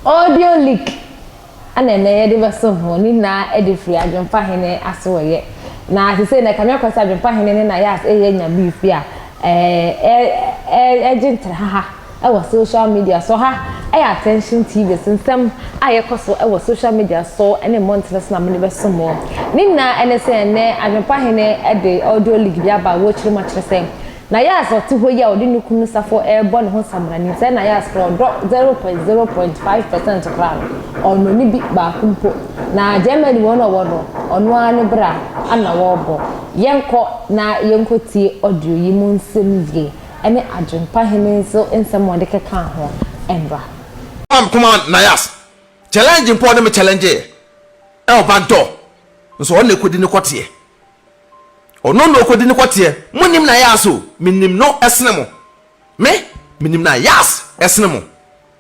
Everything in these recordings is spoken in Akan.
Audio leak ɛna ɛnɛ yɛde bɛso ho ne nyinaa de firi adwempa hene asoɔyɛ na te sɛ na kame akɔ sɛ adwempa hene ne na yɛ ase ɛyɛ nya beef bi a ɛɛ ɛɛ ɛgye ntrahaha. wɔ social media so. Ɔha yɛ Attention TV so nsɛm a yɛkɔ so wɔ social media so ne mmɔntene so na mode bɛso mo. Ne nyinaa ne sɛ ɛnnɛ Adwempa Hene de Audio League bi aba a wɔrekyerɛ mu akyerɛ sɛ Nayas a ɔte hɔ yi a ɔde ne kunu Saffo rebɔ ne ho samina nim sɛ Nayas koraa ɔdɔ zero point zero point five percent koraa no, ɔnnɔ no bi baako mpo. Na Germany wɔn a wɔwɔ no, ɔno ara ne bra na wɔrebɔ. Yɛnkɔ na yɛnkɔtie audio yi mu nsɛm yie ne Adwempa Hene nso nsɛm a wɔde kekaa ho mmra. Ɔma me koma nayas challenge mpo ɔne me challenge yɛ ɛwɔ back door nso ɔno na ɛkɔdi ne kɔteɛ ɔno na ɔkɔdi ne kɔteɛ mo nim nayas o me nim no ɛsene mo me me nim nayas ɛsene mo.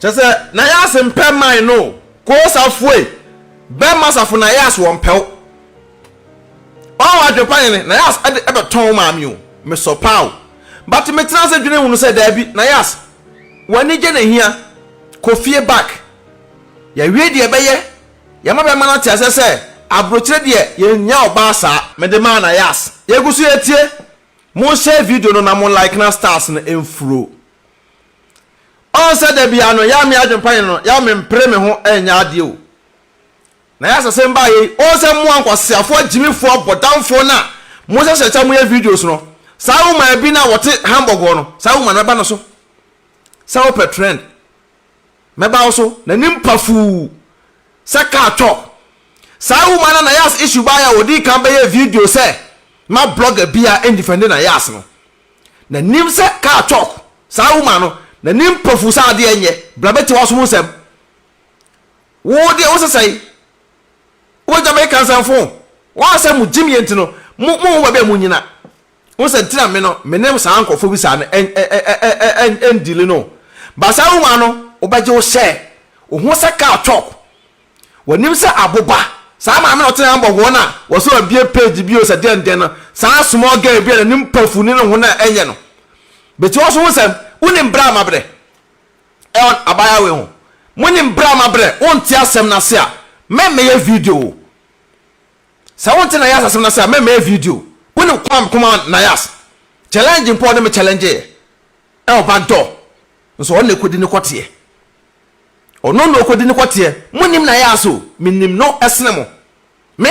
Kyɛ sɛ Nayas mpɛ man no o koo sa foe bɛ ma safo Nayas wɔ mpɛw ɔn wɔ adwen pa yɛne Nayas ɛde ɛbɛ tɔn wo maame o me sɔ paa o but me tena ase dwene hunu sɛ daabi Nayas wɔ anigye na hia kɔ fie back yɛ wie deɛ ɛbɛ yɛ yɛ ma bɛ ma no ate aseɛ sɛ abrokyire deɛ yɛ nnya ɔbaa saa. Me de maa Nayas. Yɛgu so yɛ tie. Mo share video no na mo like na stars no mfuro. Ɔn sɛ dabia no yɛ me adwenpa yɛ no yɛ me mpere me ho ɛnyɛ adeɛ o. Na yɛ asase mba yɛ yi ɔn sɛ moa nkwaseafoɔ agyimifoɔ bɔdamfoɔ no a mo hyɛ hyɛ kyɛ mo yɛ videos no saa woman bi no a wɔte Hamburg hɔ no saa woman no mɛba no so sɛ wo pɛ trend mɛba wo so na nim pafuu sɛ car twɔ saa woman no a Nayas issue baa yɛ a ɔdii kan bɛyɛ video sɛ ma blogger bia ɛndifɛnde Nayas no Na nim sɛ car talk saa woman no na nim mpofu saa adeɛ nyɛ bra bɛtie waso mu nsɛm wo deɛ wo sesɛe wo bɛgya me ka nsɛm fo wɔn sɛ mo gyim yɛ nti no mo mo ho baabi a mo nyina wo sɛ ntina me no me ne saa nkurɔfoɔ bi saa no ɛndili no ba saa woman no wobɛgye wo hyɛ wo ho sɛ car talk Wɔnim sɛ aboba, saa maame a ɔtena Hamburg wɔn a wɔsɛ ɔbea page bio sɛ dɛndɛn no, saa small girl bi a n'anim pafu ne ne ho no a ɛnyɛ no. Beti ɔso ho sɛm, wonim bere a mabrɛ? Ɛwɔ abaayewa wei ho. Monim bere a mabrɛ? Wonte asɛm no ase a, mɛmmɛyɛ video o. Sɛ wonte Nayas asɛm no ase a, mɛmmɛyɛ video. Wonim kwan a meko maa Nayas? Challenge mpo a ɔne me challengeeɛ ɛwɔ back door, nso ɔno na ɛkɔdi ne kɔteɛ. Ɔno na ɔkɔdi no kɔteɛ. Monnim na yas o, menim no sene mo. Me,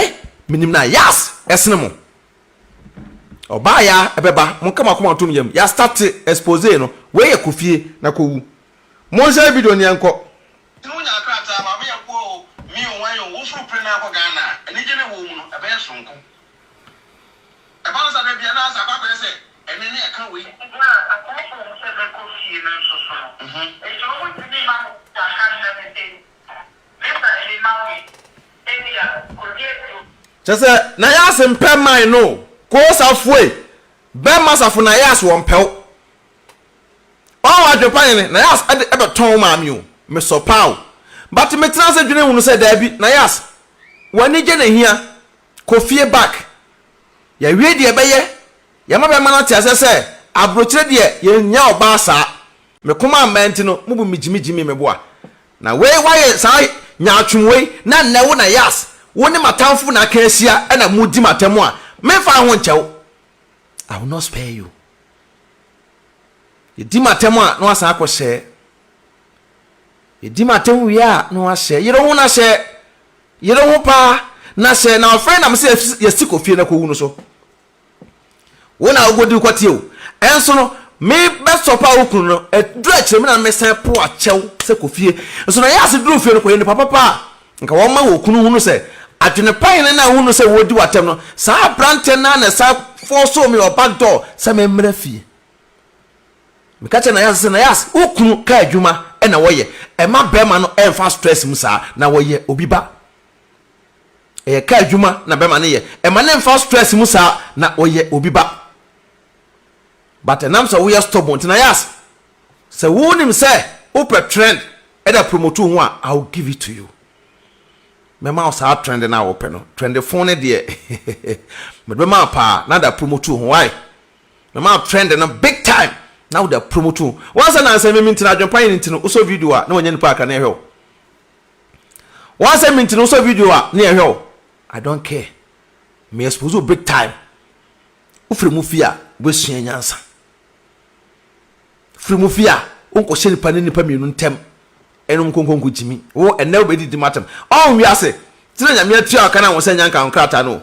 menim na yas sene mo. Ɔbaa ya ɛbɛba, monka mo akoma ntom yam. Yɛastate expose no, wei yɛ kɔ fie na kɔwu. Monhyɛ video no yɛnkɔ. Nti mo nya krataa ma me ɛboɔ o me o wan o wo foro pere na akɔ Ghana a anigye ne wɔ mu no ɛbɛyɛ soronko. Ɛba no saa da biara, na Asa akɔ akɔyɛ sɛ ɛnne ne ɛka wei. Gyina asɔfo a wɔpɛ bɛkɔ fie no nso so no, enti wɔntumi mma Mose aka nna no din, Mesa ani ma wo yi, ebia kodi aduonu. Kyerɛ sɛ, na Yas mpɛ mmae no o, Koo Safoe, bɛmma Safo na Yas wɔmpɛ wo. Ɔɔ w'adwene pa yɛ ne, na Yas ɛde ɛbɛtɔn wo maame o, mesɔ paa o. But metena ase dwene ho no sɛ daabi, na Yas, w'anigye na ɛhia, kɔ fie back. Yɛawie deɛ ɛbɛyɛ, yɛma bɛma no ate aseɛ sɛ abrokyire deɛ yɛnnya ɔbaa saa. Me koma ammɛn nti no mobu me gyimi gyimi me boa. Na wei woayɛ saa nyaatwom wei na nnɛ wo na Yas wo ne m'atamfo na aka ahyia na modi m'atam a, memfa ho nkyɛ wo. I will not spare you. Yɛdi m'atam a na woasan akɔhyɛ Yɛdi m'atɛm wie a na wahyɛ yere ho na hyɛ yere ho paa na hyɛ na ɔfrɛ nam sɛ yɛsi kɔ fie na kɔwu no so wo na wokɔdi wokɔteɛ o ɛnso no mebɛsɔ pa wo kunu no ɛduru akyerɛ me na mesan po akyɛw sɛ kɔ fie nso na yɛ ase duru fie no kɔyɛ nipa papa a nka wɔma wɔ kunu hunu sɛ adwene pa hene na hunu sɛ wɔdi w'atɛm no saa aberanteɛ no na ɛsan fɔɔ so me wɔ back door sɛ memmrɛ fie Meka kyerɛ Nayase sɛ, Nayase, wo kunu kaa adwuma na wɔyɛ. Ɛmma barima no mfa stress mu saa. Na ɔyɛ obi ba. Ɛyɛ kaa adwuma na barima no yɛ. Ɛmma no mfa stress mu saa. Na ɔyɛ obi ba. But ɛnam sɛ woyɛ stubborn nti, Nayase, sɛ wonim sɛ wopɛ trend da promote wo ho a, I will give it to you. Mɛma wo saa trend no a wopɛ no. Trend fon no deɛ, mede bɛma wo paa na da promote wo ho. Why? Me maa trend no big time na wode apromote wo ho. Once na ansɛ me me nti na adwenpa yɛ ne nti no wosɔ video a na wanya nipa kakra na yɛhwɛ wo. Once me nti no wosɔ video a na yɛhwɛ wo. I don't care. Me expose wo big time. Wofiri mu fi a wobɛsua nyansa. Firi mu fi a wonkɔhyɛ nipa ne nipa mmienu ntɛm ɛnom nkonkonko gyimi wo ɛnɛ wobɛdidi matam ɔn wiase tena nyame atua ɔka na wo sɛ nyanka nkrataa no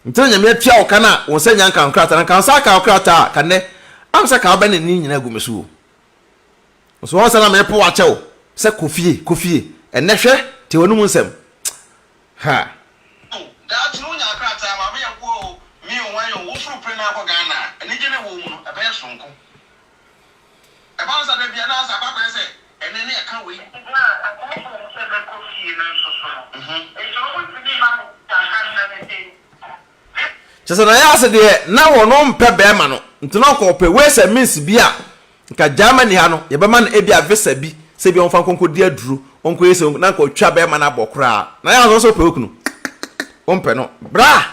Nti na Nyame atua wo ka no a, wo nsa nnya nkaa wo krataa no, anka wo nsa akaa wo krataa a, anka nnɛ am sɛ ka wobɛ ne ne nyina agu me so o. Nso wɔn sɛ na merepo wo akyɛ wo sɛ kɔ fie, kɔ fie, ɛnnɛ hwɛ, tie w'anum nsɛm, ha! Ao, daakye no wo nyaa krataa, Maame Yakuo o, me o, wan o, wo foro pere na akɔ Ghana a, anigye na ɛwɔ mu no, ɛbɛyɛ sononko. Ɛba no saa da bi a, na Asa aba abɛyɛ sɛ ɛnne no reka wei. Gyina ɔbɔfo no sɛ mɛkɔ fie no nso so no, enti wɔntumi mma no sika nka nna no din. Ne. Kyerɛ sɛ na Asa deɛ, na wɔmpɛ barima no, nti na ɔkɔ ɔpɛ ways and means bi a nka Germany ha no, yɛbɛma no ebi a visa bi, sɛ ebi a wɔmfa nkɔnkɔdi aduro, wɔnkɔyɛ sei, na nka ɔtwa barima no abɔ koraa. Na Asa nso ɔpɛ okunu, wɔmpɛ no. Bra!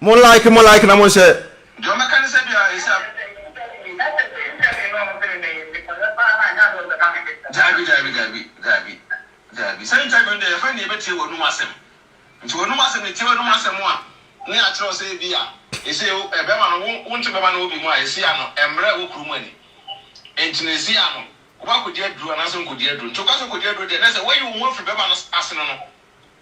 Mo like mo like na mo nhyɛ. Deɛ ɔmɛka ne sɛ bia ɛsɛ a. Daabi daabi daabi daabi daabi saa interview no deɛ yɛfrɛ no yɛbɛtie w'anum asɛm nti w'anum asɛm yɛtie w'anum asɛm a ne akyerɛw sɛ ebia ɛsɛ o bɛma no wo nto bɛma no wɔ bi mu a ɛsɛ ano ɛmmerɛ wɔ kuro mu ani nti no ɛsɛ ano wobɛkɔdi aduro anaasɛ nkɔdi aduro nti woka sɛ kɔdi aduro deɛ na sɛ woayi wo ho afiri bɛma no asene no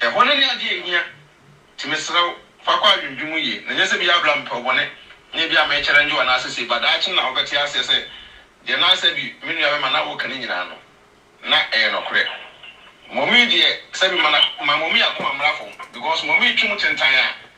Ɛhɔ no ne adeɛ a ɛhia. Nti mesrɛ wo, fa kɔ adwendwen mu yie, na nyɛ sɛ bia bra mepɛ wo bɔne, nyɛ bia me challenge wo anaase sei, but daakye na wobɛte aseɛ sɛ deɛ na sɛbi me nua bɛma na woka no nyinaa no, na ɛyɛ nɔkorɛ. Mɔmii deɛ sɛbi ma na, ma mɔmii akoma mmra fam, because mɔmii twe mu tentan a,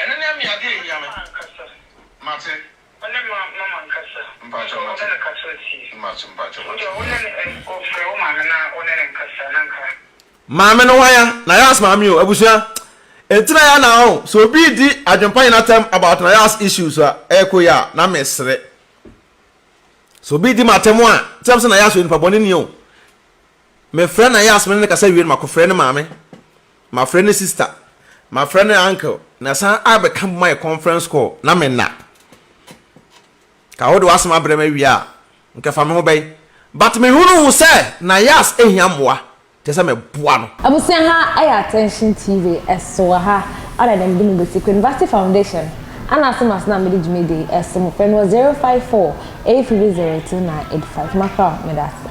Ɛno ne me adeɛ a ɛhia me. Mama ankasa. Mate. Wo ne ma, mama ankasa. Mpakyɛw mate. Wo ne no kasa tie. Mate, mpakyɛw mate. Wo deɛ wo ne no, eh, oh, frɛ wo maame na wo ne no nkasa na nka. Maame no hwan a? Nayas maame o, abusua. Enti na yɛ na ɔn, sɛ obi redi adwempa nyina tɛm about Nayas issues a, ɛyɛ ko yɛ a, na me sere. Sɛ obi redi m'atɛm a, sɛ me sɛ Nayas yɛ nipa bɔne ni o. Me frɛ Nayas me ne no kasa wie no, mako frɛ ne maame. Mafrɛ ne sister, mafrɛ ne uncle, na ɛsan abɛka bom ayɛ conference call na me nna. Ka wode w'asɛm abrɛ me awie a, nka fa me ho bɛn. But mehunuu sɛ na Yas hia mmoa, kyerɛ sɛ meboa no. Abusua ha yɛ Attention TV so wɔ ha ana na mede mo besi kɔ University Foundation ana ase ma so na mede dwumadi yi ɛso mo frɛ me wɔ 0548302985 makra o medase.